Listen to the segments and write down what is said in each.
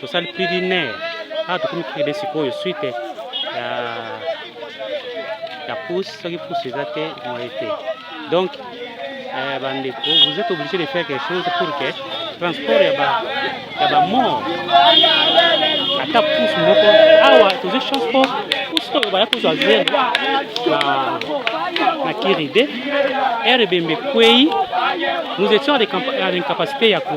tosali plus d'une heure awa tokomi kede sikoyo suite ya ya pousse soki pousse eza te moye te donc euh, bandeko vous êtes obligé de faire quelque chose pour que transport ya ba ya ba mort ata pousse moko awa tozwi chance po pousse oyo baya kozwa zero na na kiride heure ebembe ekwei nous étions à l'incapacité ya ko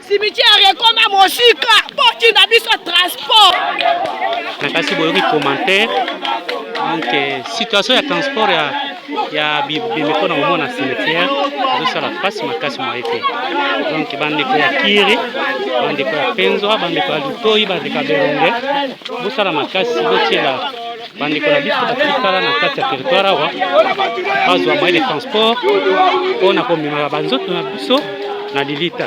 cimetière ekoma mosika botinda biso transport na kasi boyoki commentaire donc euh, situation ya transport ya ya bimeko na komona cimetière ezosala mpasi makasi moye te donc bandeko ya kiri bandeko ya penzwa bandeko ya lutoi bandeko ya belonge bosala makasi botiela bandeko na biso batikala na kati ya territoire awa bazwa moyen de transport mpo na komemaka banzoto na biso na lilita